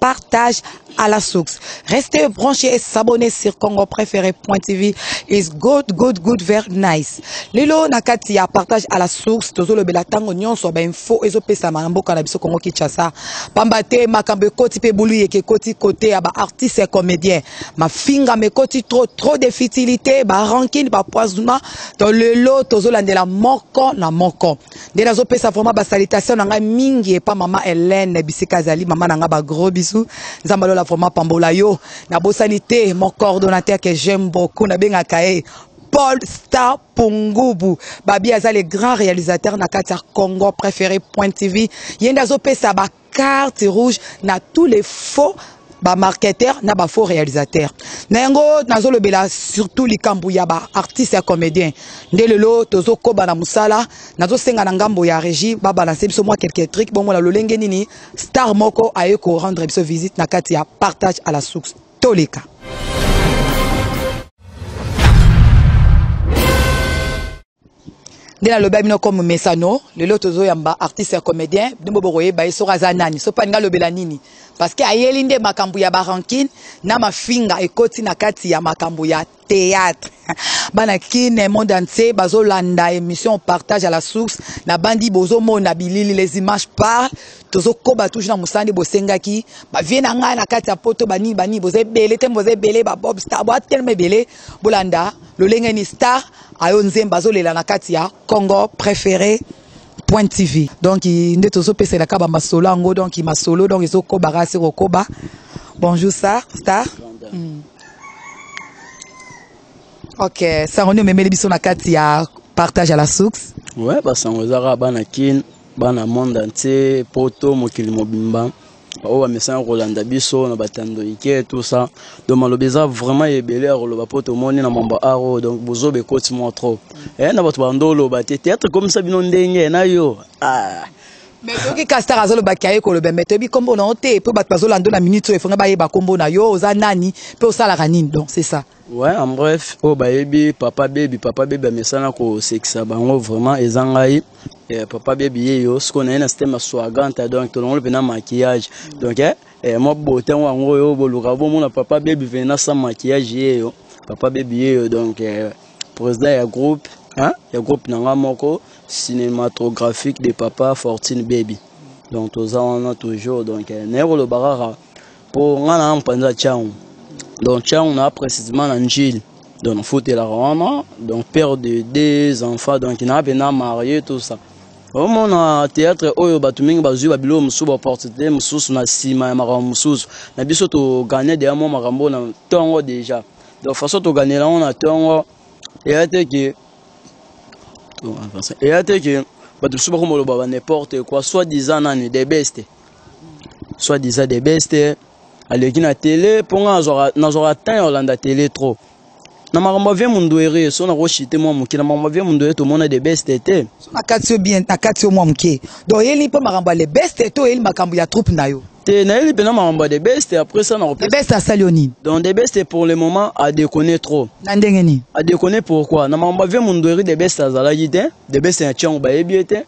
partage à la source. Restez branchés et s'abonnez sur Congo Préféré.tv. Is good, good, good, very nice. Lelo nakati ya partage à la source, tozo le belatango nyonso ba info ezo pesa ma mboka na biso Congo Kinshasa. Pamba te makambo ekoti pe bulu yeke koti côté ya ba artistes et comédiens. Ma finga me koti trop trop de futilité, ba rancune, ba poisonnement. To lelo tozo landela moko na moko. nde nazopesa vraiment basalitation na ngai mingi epa mama helene bisika azali mama na ngai bagros bisu nzambe alola vraiment pambola yo nabosani te mon coordonnateur que j'aime beaucoup nabengaka ye paul star pungubu babi aza le grand réalisateur na kati ya congo préféré point tv ye nde azopesa ba carte rouge na tous les faux ba marketeur na ba faux réalisateur na yango nazolobela surtout likambo ya ba artiste ya comédien nde lelo tozokoba na mosala nazosenga na ngambo ya régie babalanse biso mwa quelque trick bomona lolenge nini star moko aye korendre biso visite na kati ya partage à la source toleka nde nalobela bino comme mesano lelo tozoyamba artiste ya comédien bino bo bokoyeba ye soki aza nani soki alingi alobela nini parce que ayeli nde makambo ya barankine na mafinga ekoti na kati ya makambo ya théâtre bana kine monde entier bazolanda émission partage à la source na bandi bozomona bilili les images parlent tozokoba toujours na mosala nde bosengaki bavie na ngai na kati ya poto banini banini boza ebele te boza ebele babob star boatelema ebele bolanda lolenge ni star ayo nzemba azolela na kati ya congo préféré point tv donc nde tozopesela kaba masolo yango donc masolo donc ezokoba kasi kokoba bonjour star star mm. ok sango nde omemeli biso na kati ya partage à la source ouais basango ezaka bana kin bana monde entier poto mokili mobimba baoyo bamesana kolanda biso na batando ike tout ça donc maloba eza vraiment ebele ya koloba mpo tomoni na mambo aro donc bozoba ekoti mwa trop eh, na bato bando oloba te théâtre ekomisa bino ndenge na yo ah. mais toki castar azoloba ke aye koloba mais toyebi nkombo na yo te mpo bato bazolanda na minute oyo efonga bayeba nkombo na yo oza nani mpe osalaka nini donc c'est ça Ouais, en bref, oh baby, papa baby, papa baby amesana ko sekisa bango vraiment eza ngai. Eh, papa baby yeyo, ce qu'on a un système swagante donc tout le monde pena maquillage. Donc eh, eh moi beauté wango yo boluka bo mona papa baby vena sans maquillage yeyo. Papa baby yeyo donc eh, président ya groupe, hein, ya groupe nanga moko cinématographique de papa Fortune baby. Donc toza wana toujours donc eh, naye ko lobaka mpo ngai na mpanza ntango donc ntango na précisément na njili donc nafutelaka wana donc père de deux enfants donc na mpena marie tout ça omona théâtre oyo bato mingi bazwi babiloko mosusu baopportunité mosusu na nsima ya makambo mosusu na biso togane deya mwa makambo oyo na ntongo déjà donc façon toganela yango na ntongo eya te ke eya te ke bato mosusu bakoma loba ba n'importe quoi soit disant nani the best soit disant de best aleki na tele mpo ngai nazwaka temps ya kolanda tele trop na makambo ya vie munduere so nakoshite mwa moke na makambo ya vie munduere tomona de best te nakati yo bien nakati yo mwa moke donc oyeli mpe makambo ya le best te oyeli makambo ya troupe na yo te nayeli mpenza makambo ya de best après ça nakopesa best asali yo nini donc de best pour le moment adekone trop na ndenge nini adekone pourquoi na makambo ya vie mundueri de best azalaki te de best na tiango bayebi ye te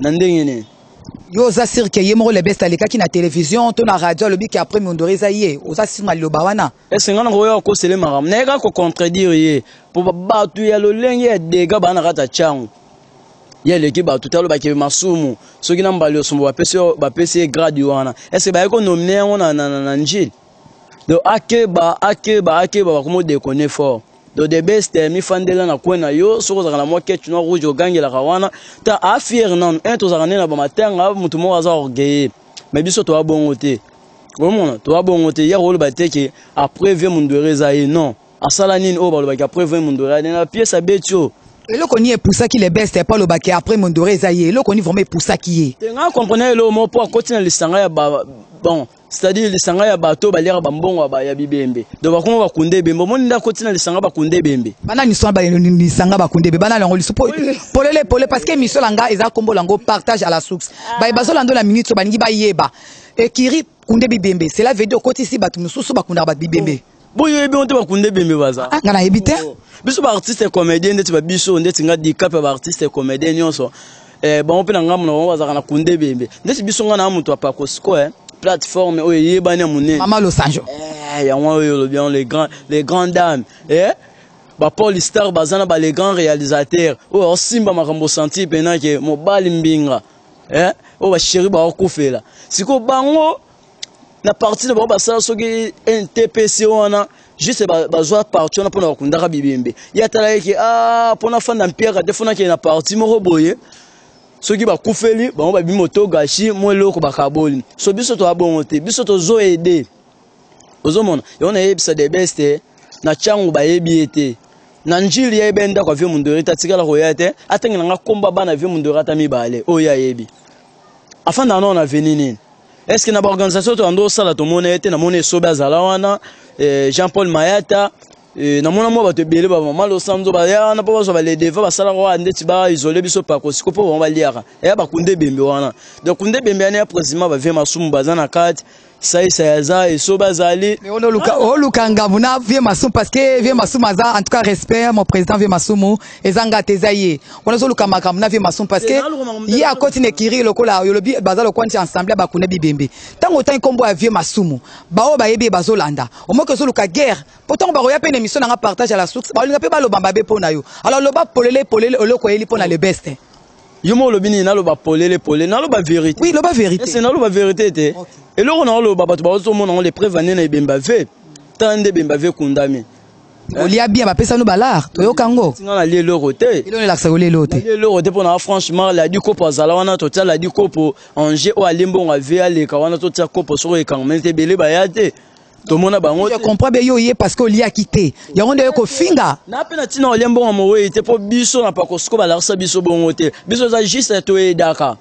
Na ndenge nini? Yo oza sur que ye moko le best alekaki na television to na radio alobi ke après Mondori eza ye? Oza sur na liloba wana? Est-ce que nga na koya kokosele makambo? Na yeka ko contredire ye. Po bato ya lolenge ya dega ba na kata changu. Ye aleki bato te aloba ke masumu soki na mbali osumbu bapesi bapesi ye grade wana. Est-ce que ba yeko nominer yango na na na, na njili? Donc akeba akeba akeba bakomo deconner fort. do the best eh, mifandela na coin na yo soki ozalaka na mwa ketch noir rouge ogangelaka wana ta afiere nanu un tozalaka nde na bamatanga motu moko aza orgueille mais biso toya bongo te omona toya bongo te ya koloba te ke après vie mundwere eza ye non asala nini oyo balobaki après vie mundwere ade na pièce abeti oyo eloko nini epusaki le best epa olobaki après mondore eza ye eloko nini vraiment epusaki ye te ngai comprena eloko moko mpo akoti na lisanga ya bon c'est-à-dire lisanga ya bato oyo baliaka bambongo ya bibembe donc bakoma bakunda ebembe omoni nde akoti na lisanga bakunda ebembe bana miso na lisanga bakunda ebembe bana yango liso polele pole parce que miso na ngai eza nkombo na yango partage à la source baye bazolanda na minute oyo balingi bayeba ekiri kunde bibembe cela veut dire okotisi bato mosusu bakundaka bato bibembe boyoyebi bango te bakunda ebembe baza ah, nga nayebi te oh. biso baartiste comédien ndeti babiso ndeti nga dicap ya baartiste comédien nyonso eh, bango mpe na ngambo na bango bazalaka na kunda ebembe ndeti biso nga na moto ya pakosiko eh, plateforme oyo eyebani ya monene mama losanjo eh, yango oyo olobi yango les grand, les grandes dames eh? bapaul star baza na bale grand réalisateur oyo aosimba makambo santi mpenake mobali mbinga eh? oyo basheri baokufela sikoyo bango na parti na bango basala soki ntpc wana juste bazwa parti wana mpona bakundaka bibembe ye atalaki ke a mpona fanda mpiaka te fonakende na parti moko boye soki bakufeli bango babi moto gashi mwa eloko bakaboli so biso toya bongo te biso tozo ede ozomona yango nayebisa the best eh, na cango bayebi ye te na njili ya ebe ndako ya vie mondori te atikala koya te atangela nga komba bana vie mondori ata mibale oyo ayebi afandaka nao na veni nini est ce que na baorganisation to yando osala tomona ye te namona esobe azala wana eh, jean paul mayata eh, namona mwa bato ebele bamama losanzo baya wana mpo bazwa baledeva basalaka wana ndeti baisole biso pako siko mpo bango baliaka eya bakunda ebembe wana donc kunda ebembe yana ya président bavie masumu baza na kati saisai aza eso bazali oluka ngambo na vie masumu parce que vie masumu aza en tout cas respect mon président vie masumu eza nga te eza ye wana ozoluka makambo na vie masumu parce que ye akoti na ekiri lokola oyo olobi baza lokola nti ensemble bakuna bibembe ntango otangi nkombo ya vie masumu baoyo bayebi ye bazolanda omoki ozoluka guerre mpo ntango bakoya mpe na émission na nga partage à la source baolinga mpe baloba mabe mpo na yo alors loba polele polele oloko oyeli mpo na le beste yo moko olobi nini naloba polele polele naloba verité oui loba verité ese naloba verité te okay. eloko na oloba bato bazomona yango lepreuve ane na ebemba ve tala nde ebemba ve kundami eh? olia bia bapesano balar toyoka yango nga nalia eloko te elonelakisa kolia eloko te eloko te mpona franchement ladi kopo azala wana totia ladi kopo ange oyo alie mbongo ave aleka wana totia kopo soko ekangama te ebele baya te tomona bango te. Je comprends bien yo ye parce que oliaki te. Yango nde ko finga. Na pe na tina olie mbongo moweyi te po biso na pakosko balakisa biso bongo te. Biso za juste to edaka.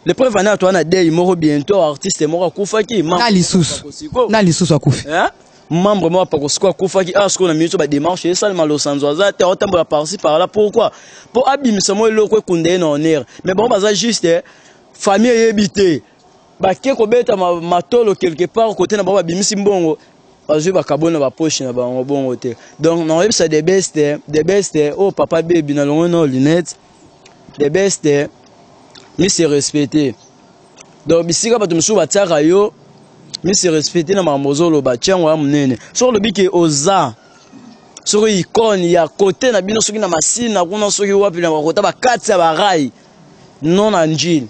Le preuve ana to ana dei moko bientôt artiste moko akufaki. Na lisusu. Na lisusu akufi. Hein? membre moko pakosko akufaki awa ah, sikoyo na minute ba démarche esalema losanzo aza te aotambola parci par là pourquoi mpo abimisa mwa eloko ekunda ye na honneur mais bango baza juste eh, famille eyebi te bake kobeta matolo quelque part kote na bango babimisi mbongo bazwi bakaboli na bapoche na bango bongo te donc nakoyebisa the best the best oyo oh, papa bebi na longo na lunette the best mise respecte donc bisika bato mosusu batiaka yo mise respecte na makambo ozoloba tiango ya monene soki olobi ke oza soki ikone ya kote na bino soki na masina kuna soki wapi na bakota bakati ya barai non na njili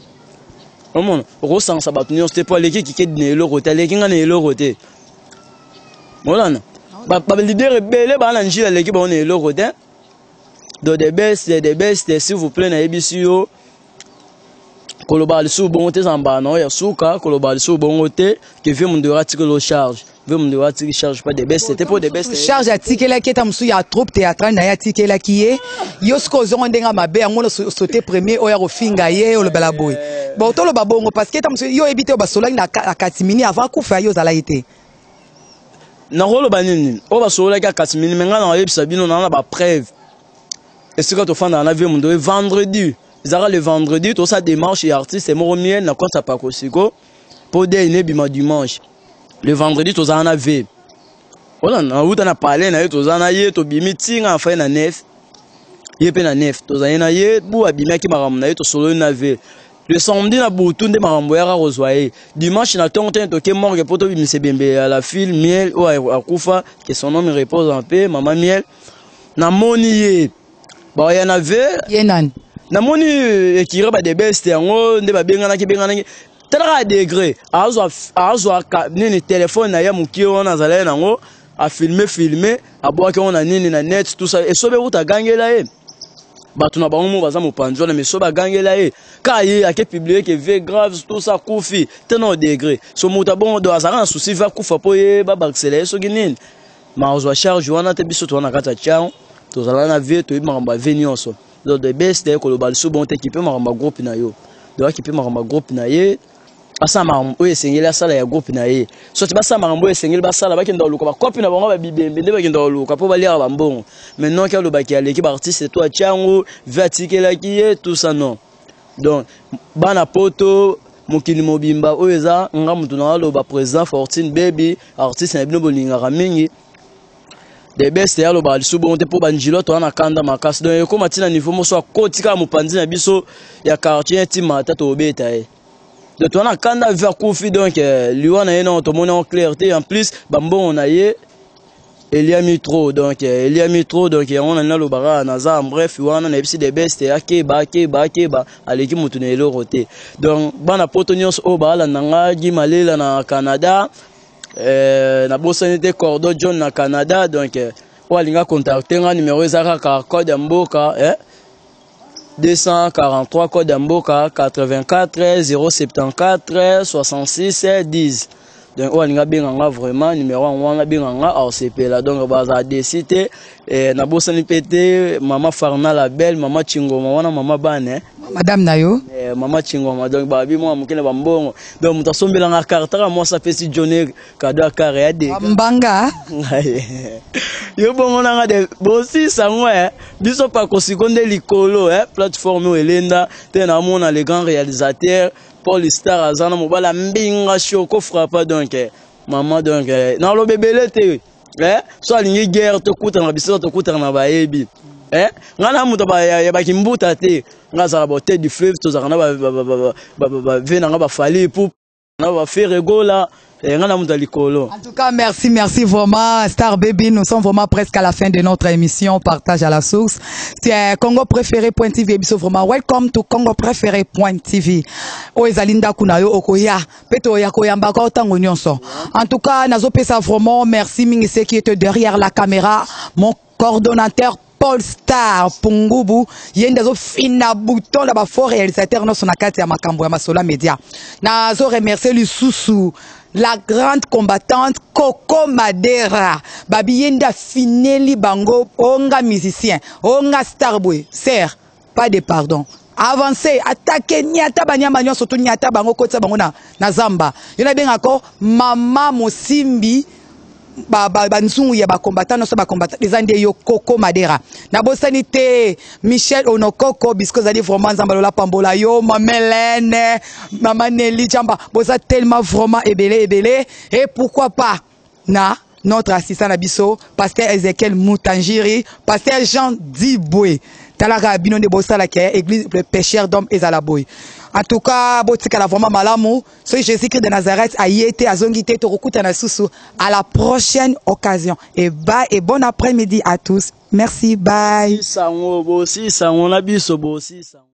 omona okosangisa bato nyonso te mpo aleki kikedi na eloko te aleki ngai na eloko te molana balidere ebele baa na njili aleki bango na eloko te do the best the best s'il vous plaît nayebisi yo koloba lisusu bongo te ezala mbala na yo ya suka koloba lisusu bongo te kevie mondora tikelo charge Vio Munde wa tiki charge pas de best te po de best. Charge atikelaki eta musu ya troupe théâtrale na ya tikelaki ye. Yo siko ozongo ndenga mabe yango na sauter premier oya kofinga ye olobela boye. Bon tolo babongo parce que eta musu yo ebite basolaki na katimini avant kufa yo zala ete. nakoloba nini oyo basololaki ya kasimini me ngai nakoyebisa bino naa na bapreuve esika tofandaka na vie mondo ye vendredi ezalaka le vendredi tosa démarche ya artiste moko miel na konsa pakosiko po dei ne bima dimanche le vendredi tozala na ve oza nauta na palais na ye toza na ye tobimi ntinga afai na nef ye mpe na nef tozali na ye bu abimaki makambo na ye tosololi na ve le samedi na butu nde makambo yaka kozwa ye dimanche na ntongo tene toke morgue mpo tobimisa ebembe ya la file miel oyo akufa ke son homme repose en paix mama miel namoni ye ba ya na ve ye nani namoni euh, ekira ba de best yango nde babenganaki benganaki talaka degre azwa azwa nini telefone na ye mokie wana azalaki nango afilme filme abwaki yango na nini na net tout ça esobe kuta agangela ye bato na bango moko baza mopanzi wana mais so bagangela ye ka ye ake publie ke ve grave tosa kufi tena odegre so moto abongo do azalaka na susi va kufa mpo ye babakisela ye soki nini ma ozwa charge wana te biso toza na kati ya chao tozala na vie toyebi makambo ya vie nyonso donc the best eh, koloba lisusu bongo te kipe makambo ya groupe na yo donc akipe makambo ya groupe na ye asala makambo oyo esengeli asala ya groupe na ye soki basala makambo oyo esengeli basala bakenda koluka bakopi na bango babibembe nde bakenda koluka mpo baliaka bambongo maintenant ke alobaki aleki baartiste to atya yango vi atikelaki ye tout ça non donc bana poto mokili mobimba oyo eza nga motu na aloba président fortune baby artiste na bino bolingaka mingi the best ya alobaka lisusu bongo te mpo banjilo toza na kanda makasi donc ekoma ntina niveau moso akoti kaka mopanzi na biso ya quartier ya ntima ata tobeta ye donc toza na kanda vi akufi donc eh, liwa na ye nao tomoni yango clair te en plus bambongo na ye eliami trop donc eh, eliami trop donc yango na naloba kaka naza en bref wana nayebisi de best akeba akeba akeba aleki motu na eloko te donc bana poto nyonso oyo baalanda nga gi malela na canada eh, nabosani te cordo john na canada donc eh, oyo alinga contacte nga numero eza kaka code ya mboka eh, 243 code ya mboka 84 074 66 10 donc oyo alingi abenga nga vraiment numero yango wana abenga nga aosepela donc bazala desi te eh, nabosani mpe te mama farna la belle mama chingoma wana mama bane eh. madame na yo eh, mama chingoma donc babi mwa moke na bambongo donc moto asombelanga kartaka mwasi apesi jone kado ya kare ya dega mbanga yo bongo nanga de bosisa yango e eh. biso pakosiko nde likolo e eh. plateforme oyo elenda te namona le grand réalisateur paul star aza na mobali ya mbinga shoko frappa donc eh. mama donc naloba ebele te so alingi guerre tokutana na biso tokutana na bayebi Eh? ngai na moto ya bakimbuta te ngai azala bote du fleuve tozalaka na bave na ngai bafali epup na ba Ferre Gola eh, nga na muta likolo. En tout cas, merci, merci vraiment, Star Baby. Nous sommes vraiment presque à la fin de notre émission Partage à la source. C'est euh, Congo Préféré Point TV. Ebiso vraiment, welcome to Congo Préféré Point TV. O ezali ndaku na yo okoya, peto oya koyamba ko tango nyonso. En tout cas, nazo pesa vraiment merci mingi ceux qui étaient derrière la caméra. Mon coordonnateur Paul Star Pungubu ye nde azofinda bouton na ba faux réalisateur nyonso na kati ya makambo ya Masola Media. Nazo remercier lisusu la grande combattante Coco Madera babi ye nde afineli bango onga musicien onga star boye serre pas de pardon avancer attaquer niata banyama nyonso to niata bango kotisa bango na, na zamba yo nabenga ko mama mosimbi banzungu ya bakombatan nyonso bakombatan eza nde yo koko madera nabosani te michel onokoko bisko ezali vraiment nzambe lola pambola yo mamelene mama neli jamba boza tellement vraiment ebele ebele e pourquoi pas na notre assistant na biso pasteur ezekiel mutanjiri pasteur jean dibwe talaka bino nde bosala ke église le pécheur d'homme ezala boye en tout cas botikala vraiment malamu soki jésus christ de nazareth aye te azongi te tokokutana lisusu à la prochaine occasion et ba et bon après midi à tous merci bye sango bosi sango na biso bosi sango